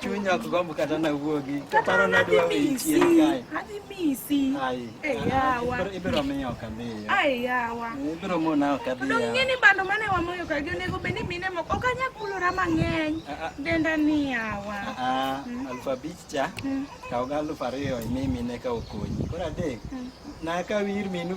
chunya kugambo kata na wuogi paro na dwa wichien kae ibiro miyo ok adhiyo ibiro mona ok adhiyong'eni bando mane wamoyo kagi onego bed ni mine moko ok anya kulora mang'eny denda ni yawa aluf abich cha kaw ga aluf ariyo imi mine ka okonyi koro adek nakaw ir minu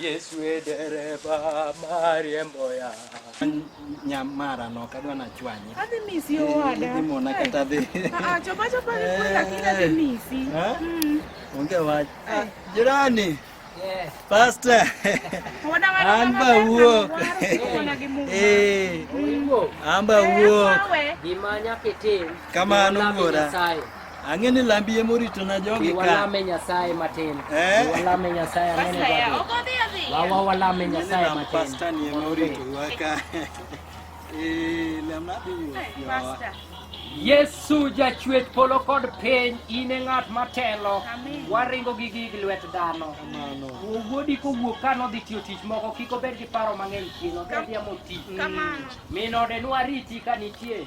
Yesu e dereva mariembo ya nyamara no kadwa na chwanye. Adhi misi owada. Adhi mona kata adhi. Ah, chopa chopa ni kwa lakini adhi misi. Eh? Mm. Onge wach. Eh. Jirani. Yes. Pastor. Wana wana. Amba uo. Eh. Amba uo. Gimanya ketem. Kama anugora. Ang'e ni lambi ema orito na jogi ka. Walame Nyasaye matin. Eh? Walame Nyasaye ang'e ni jogi. Wawa walame Nyasaye matin. Pastor ni ema orito wa ka. Eh, lamna bi yo. Pastor. Yesu jachwech polo kod piny in e ng'at matelo waringo gi gig lwet dhano owuodi kowuok ka nodhi tiyo tich moko kik obed gi paro mang'eny chien odhi adhiya moti min ode nwariti ka nitie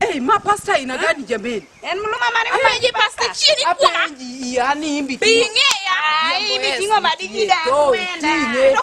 Hey, ma pasta ina gani jameni? En mluma mane mama ji pasta chini kwa. Apenji yani imbi. Pinge ya. Ai imbi kingo madigi da kwenda.